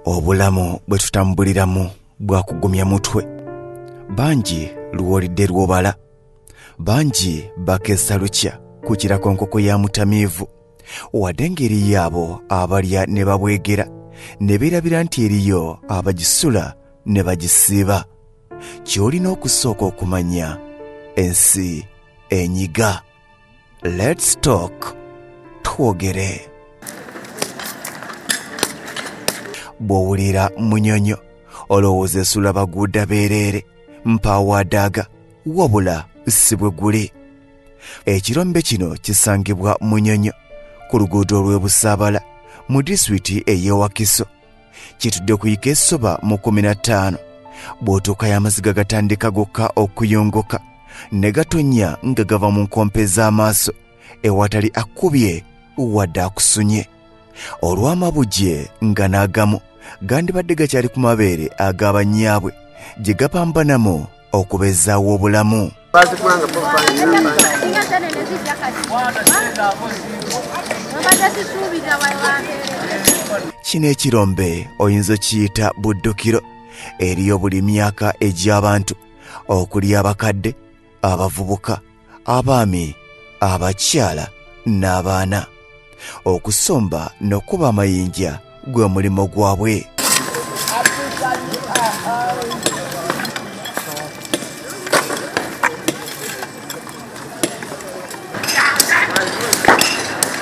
obulamu bwe tutambuliramu bwakugumya mutwe bangi luwolidde lwobala bangi bakeesa lukya ku kirakonkoko ya mutamiivu wadde ng'eriyo abo abalya ne babwegera ne beerabira nti eriyo abagisula ne bagisiiba ky'olina okusooka okumanya ensi enyiga Let's talk twogere. Bw'owulira munyonyo olowooza esula baguuda beereere mpaawaadaaga wabula si bwe guli. Ekirombe kino kisangibwa munyonyo ku luguudo olw'e Busaabala mu disitulikiti ey'e Wakiso. kitudde okuyika esoba mu kumi na ttaano bw'otuuka y'amaziga gatandika gokka okuyongoka ne gatonnya nga gava mu nkompe z'amaaso ewatali akkubye wadde akusunye olw'amabugye nga n'agamu gandibadde gakyali ku mabeere ag'abanyaabwe gye gapambanamu okubezaawo obulamu kino ekirombe oyinza okiyita buddukiro eriyo buli myaka egy'abantu okuli abakadde abavubuka abaami abakyala n'abaana okusomba n'okuba amayinja gwe mulimu gwabwe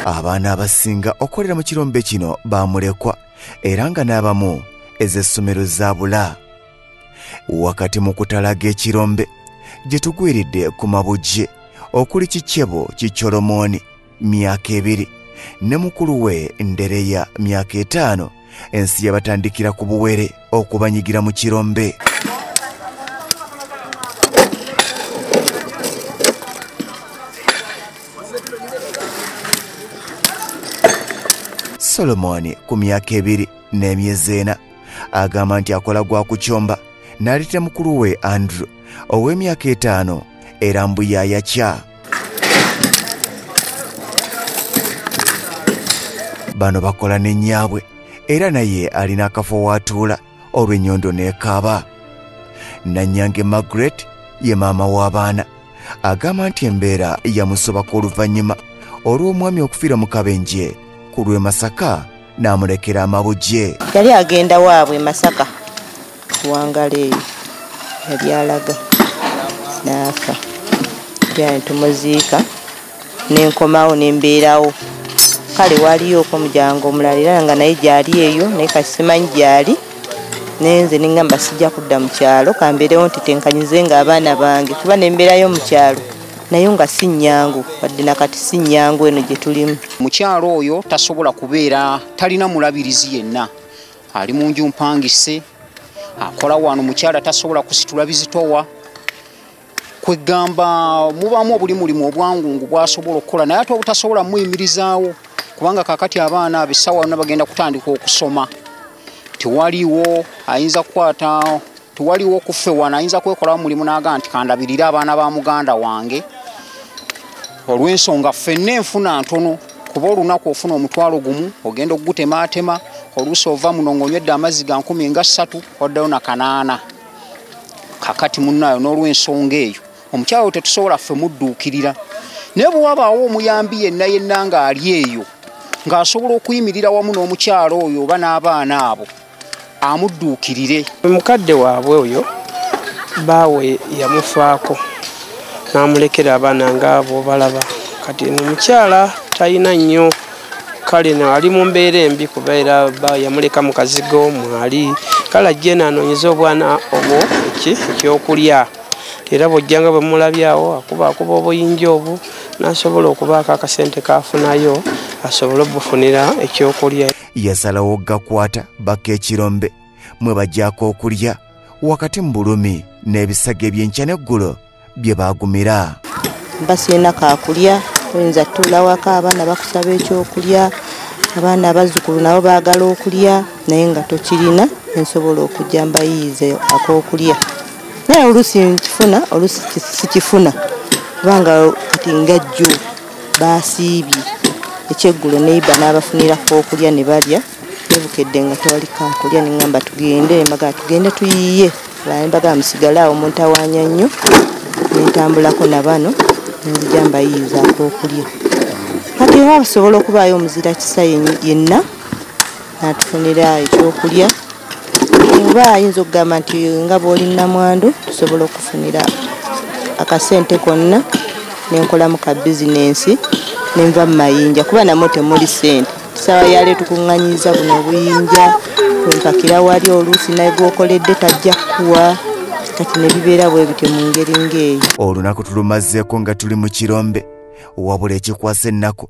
abaana abasinga okolera mu kirombe kino bamulekwa era nga n'abamu ez'essomero zaabula wakati mu kutalaga ekirombe gye tugwiridde ku mabujje okuli kikyebo kikyolomooni myaka ebiri ne mukulu we ndereya myaka etaano ensi yabatandikira ku buwere okubanyigira mu kirombe solomoni ku myaka ebiri n'emyezi ena agamba nti akola gwa kukyomba n'aleeta mukulu we andrew ow'emyaka etaano era mbu yayakya bano bakola ne nnyaabwe era naye alina akafo waatuula olw'ennyondo n'ekaaba nannyange margaret ye maama w'abaana agamba nti embeera yamusobako oluvannyuma olw'omwami okufiira mu kabenje ku lw'e masaka n'amulekera amabugye yali agenda waabwe e masaka kuwangala eyo yali alaga n'afa yani tumuziika nenkomawo nembeerawo kale waliyooko omulyango omulala era nga naye gyali eyo naye kasimanyi gyali nenze nengamba sijja kudda mu kyalo kambeerewo nti tenkanyize nga abaana bange kuba nembeerayo mu kyalo nayo nga si nnyangu wadde nakati si nnyangu eno gye tulimu mukyalo oyo tasobola kubeera talina mulabirizi yenna ali mu nju mpangise akola wano mukyala tasobola kusitula bizitowa kwegamba mubaamu obuli mulimu obwangungu bwasobola okukola naye ate obutasobola muyimirizaawo kubanga kakati abaana abessawa yonna bagenda kutandika okusoma tewaliwo ayinza kukwata tewaliwo kuffe wana ayinza kwekolawo mulimu naga nti kandabirire abaana ba muganda wange olw'ensonga ffenna enfuna ntono kuba olunaku ofuna omutwalo gumu ogenda okugutemaatema oluusi ova muno ngaonywedde amazzi ga nkumi nga ssatu oddayo na kanaana kakati munnaayo n'olw'ensonga eyo omukyala wo tetusobola ffe mudduukirira naye bwe wabaawo omuyambi yenna yenna ng'ali eyo ng'asobola okuyimirira wamu n'omukyala oyo oba n'abaana abo amudduukirire mukadde waabwe oyo baawe yamufaako n'amulekera abaana ngaabo balaba kati no mukyala talina nnyo kale no ali mu mbeera embi kuba era yamuleka mu kazigo mwali kale ajje naanoonyeza obwana obwo eki ekyokulya era bwojjanga bwe mulabyawo akuba akuba obuyinja obwo n'asobola okubaako akasente kaafunayo asobole obufunira ekyokulya yasalawo okugakwata bakka ekirombe mwe bajyako okulya wakati mu bulumi n'ebisago ebyenkya n'eggulo bye baagumira basirina kakulya oyinza tuulawako abaana bakusaba ekyokulya abaana abazzukulu nabo baagala okulya naye nga tokirina ensobola okujja mbayiize akokulya naye oluusi nkifuna oluusi sikifuna kubanga kati ngajjuu baasiibye ekyeggulo neiba n'abafunirako okulya ne balya nebukedde nga tewali kakulya neŋamba tugende mbaga tugende tuyiye mbaga musigale awo muntawanya nnyo nentambulako na bano nenzija mbayiyizaako okulya kati era basobola okubaayo omuzira kisa yenna natufunira ekyokulya oba ayinza okugamba nti nga bwoli namwandu tusobola okufunira akasente konna nenkolamu ka bizinensi nenva mu mayinja kuba namwe temuli sente sawa yale tukuŋŋanyiza buno obuyinja wempakira wali oluusi naye gwokoledde tajja kukuwa kati ne bibeera bwe bityo mu ngeri ng'eyo olunaku tulumazeeko nga tuli mu kirombe wabula ekikwasa ennaku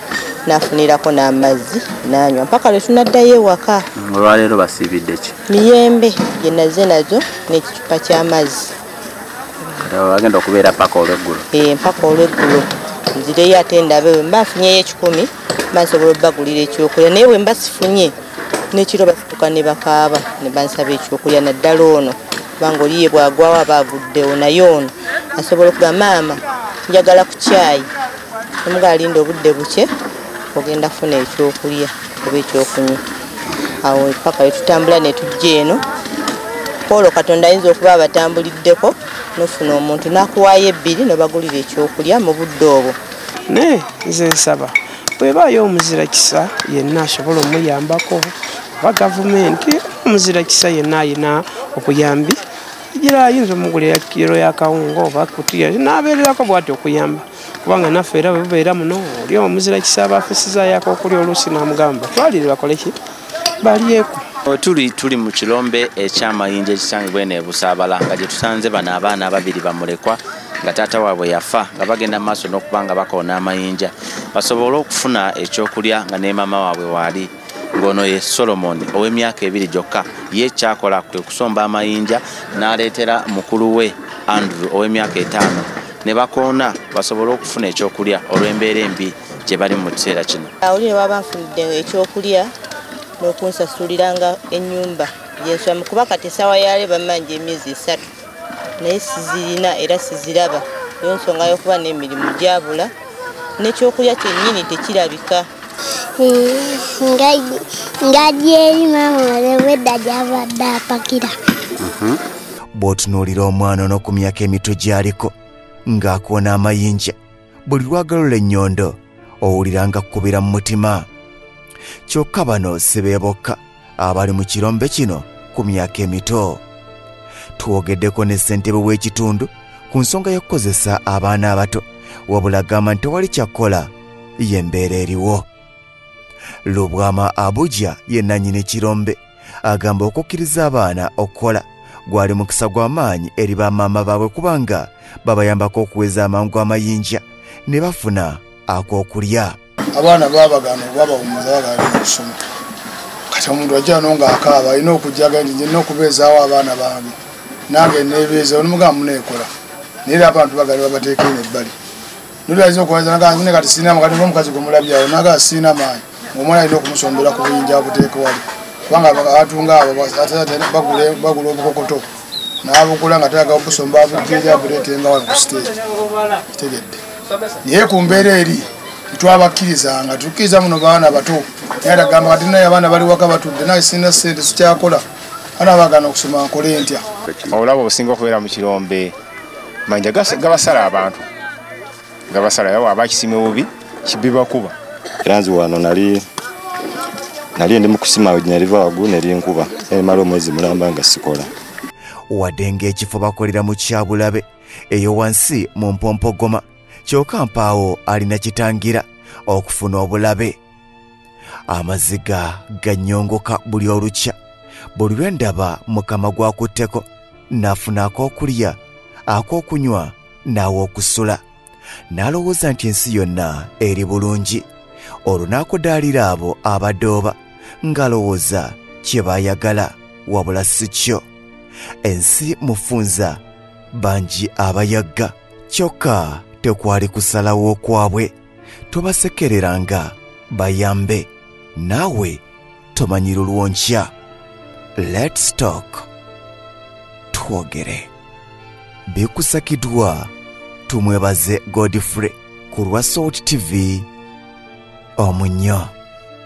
nafunirako n'amazzi nanywa mpaka lwe tunaddayo ewaka olwaleero basiibidde ki miyembe gyenaze nazo n'ekicupa ky'amazzi agenda okubeera paka olweggulo eh, mpaka olweggulo nzireyo ate ndabe we mba nfunyeyo ekikumi mba nsobola obbagulira ekyokulya naye bwe mba sifunye n'ekiro batutuka ne bakaaba ne bansaba ekyokulya naddala ono kubanga oliye bwagwawo aba aguddewo naye ono asobola okuga maama njagala ku kyayi omuga alinda obudde bukye ogenda kufuna ekyokulya oba ekyokunywa awo paka wetutambula netujja eno olwo katonda ayinza okuba abatambuliddeko nofuna omuntu nakuwaayo ebbiri nobagulira ekyokulya mu budde obwo naye nze nsaba bwebaayo omuzira kisa yenna asobola omuyambako oba gavumenti omuzira kisa yenna ayina okuyambi gira ayinza omugulira kiro yakawunga oba kutiya nabeererako bwati okuyamba kubanga naffe era webubeera muno oli omuzira kisaaba afisizayo akokulya oluusi namugamba twalire bakoleki balyeku tuli tuli mu kirombe ekyamayinja ekisangibwa eno ebusaabala nga gye tusanze bano abaana ababiri bamulekwa nga taata waabwe yafa nga bagenda mu maaso n'okuba nga bakoona amayinja basobole okufuna ekyokulya nga ne maama waabwe waali ng'ono ye solomoni ow'emyaka ebiri gyokka ye kyakola kwe kusomba amayinja n'aleetera mukulu we andrew ow'emyaka etaano ne bakoona basobole okufuna ekyokulya olw'embeera embi gye bali mu kiseera kino oli ne baba nfunidde ekyokulya n'okunsasuliranga ennyumba gyenswamu kuba kati essaawa yale bamanja emyezi esatu naye sizirina era siziraba yo nsonga yokuba n'emirimu gyabula nekyokulya kyennyini tekirabika ngadi eri maama olewedda gyabadde apakira mhm. bw'otunuulira omwana ono ku myaka emitwe gy'aliko ng'akoona amayinja buli lwagalola ennyondo owulira nga kkubira mu mutima kyokka bano si be bokka abali mu kirombe kino ku myaka emito twogeddeko ne ssentebe w'ekitundu ku nsonga y'okukozesa abaana abato wabula gamba nti tewali kyakkola y'embeera eriwo lubwama abuja ye nannyini kirombe agamba okukkiriza abaana okukola gwali mukisa gwa maanyi eri ba maama baabwe kubanga babayambako okuweza amangu amayinja ne bafuna ak'okulya abaana babagana obabawumuza bagala okusoma kati omuntu ajja no ngaakaaba alina okujjaga nti nyina okubeezaawo abaana bange nange nebeeza onomugamba muneekola naye era abantu bagala babateekene ebbali nolwaiza okuwaza naga nzine kati sirina mukati nga omukazi gwe mulabyawo naga sirina maanyi ngaomwana alina okumusombera ku buyinja abuteeka wali kubanga atunga abo bagula obukokoto nabugula nga talaga okusomba abujjeri abuleetenga wali ku siteegi kitegedde naye ku mbeera eri twabakkiriza nga tukkiriza muno baana bato naye atagamba kati naye abaana bali waka batudde naye sirina sente sikyakola ana bagana okusoma nkole ntya olaba obusinga okubeera mu kirombe manja gabasala abantu gabasala yawa abakisime bubi kibibakuba era nzi wano nali nali ndi mukusima wenyaliva wagu nerinkuba emala omwezi mulamba nga sikola wadde ng'ekifo bakolera mu kyabulabe eyo wansi mu mpompogoma kyoka mpaawo alina kitangira okufuna obulabe amaziga ganyongoka buli olukya buli lwe ndaba mukama gwakutteko n'afuna ak'okulya ak'okunywa n'aw'okusula n'alowooza nti ensi yonna eri bulungi olwo n'akudaalira abo abadooba ng'alowooza kye baayagala wabula si kyo ensi mufunza bangi abayagga kyokka tekwali kusalawo kwabwe tobasekereranga bayambe naawe tomanyi lulwonkya let's talk twogere bikusakidwa tumwebaze godfrey ku lwa salt tv omunyo